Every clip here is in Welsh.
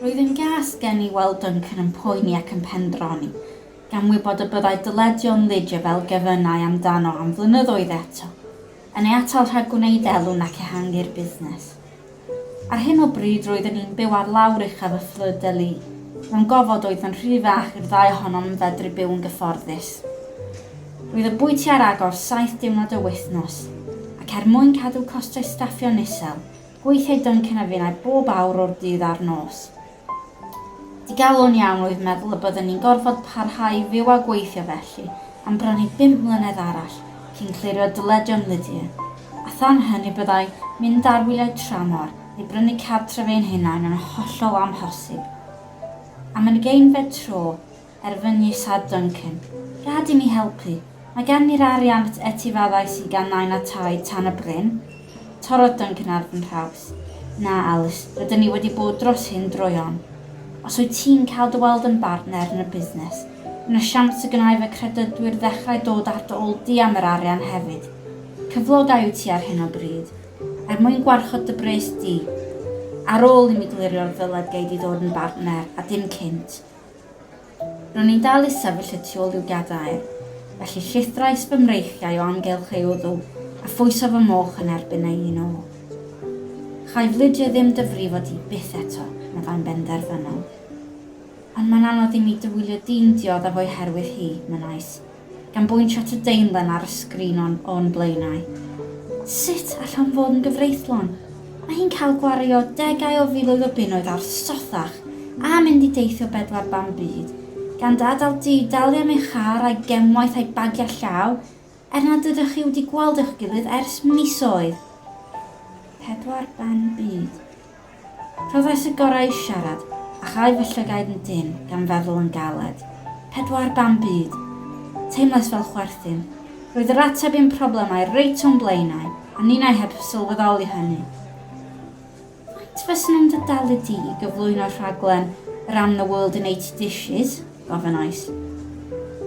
Roedd yn gas gen i weld Duncan yn poeni ac yn pendroni, gan wybod y byddai dyledion Lidge y fel gefynnau amdano am flynyddoedd eto, yn ei atal rhag gwneud elw nac ehangu'r busnes. Ar hyn o bryd roedden ni'n byw ar lawr uchaf y Fleur-de-Lys. Mewn gofod oedd yn rhy fach i'r ddau ohonom yn fedru byw yn gyfforddus. Roedd y bwyty ar agor saith diwrnod y wythnos, ac er mwyn cadw costau staffio'n isel, gweithiai Duncan a finnau bob awr o'r dydd a'r nos. Digalon iawn oedd meddwl y byddwn ni'n gorfod parhau i fyw a gweithio felly am bron i bump mlynedd arall cyn clirio dyledion Lydia, a than hynny byddai mynd ar wyliau tramor neu brynu cartref ein hunain yn hollol amhosib. Am ugeinfed tro, Er fy nhithad Duncan. Rhaid i mi helpu. Mae gan ni'r arian at etifadau siganau a tai tan y bryn. Torrodd Duncan ar fy nhraws. Na, Alys, rydyn ni wedi bod dros hyn droeon. Os wyt ti'n cael dy weld yn bartner yn y busnes, yna siawns y gwnai fy credydwyr ddechrau dod ar dy ôl di am yr arian hefyd. Cyflogau wyt ti ar hyn o bryd. Er mwyn gwarchod dy bres di. Ar ôl i mi glirio'r ddyled gei di ddod yn bartner, a dim cynt. Ro'n i'n dal isaf fy llu tu ôl i'w gadair, felly llithrais fy mreichiau o amgylch ei wddw a phwyso fy moch yn erbyn ei un ôl. Chai flidio ddim dy frifo di byth eto, meddai'n benderfynol. Ond mae'n anodd i mi dy wylio di'n diodda fo'i herwydd hi, mynnais. gan bwyntio at y daenlen ar y sgrin o'n o'n blaenau. Sut allwn fod yn gyfreithlon? Mae hi'n cael gwario degau o filoedd o bunnoedd ar sothach a mynd i deithio bedwar ban byd, gan dy adael di dalu am ei char a'i gemwaith a'i bagiau llaw, er nad ydych chi wedi gweld eich gilydd ers misoedd! Pedwar ban byd. Rhoddais y gorau i siarad, a chau fy llygaid yn dynn gan feddwl yn galed. Pedwar ban byd! Teimlais fel chwerthin. Roedd yr ateb i'm problemau reit o'm blaenau, a ninnau heb sylweddoli hynny. Faint fysen nhw'n dy dalu di i gyflwyno rhaglen yr Am the World in Eighty Dishes? gofynnais.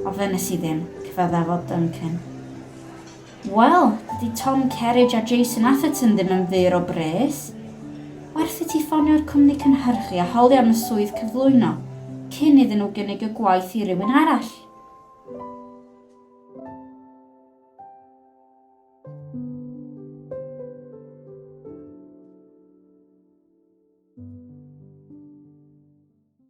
Ofynes i ddim, cyfaddafodd Duncan. Wel, dydy Tom Kerridge a Jason Atherton ddim yn fur o bres. Werth i ti ffonio'r cwmni cynhyrchu a holi am y swydd cyflwyno cyn iddyn nhw gynnig y gwaith i rywun arall.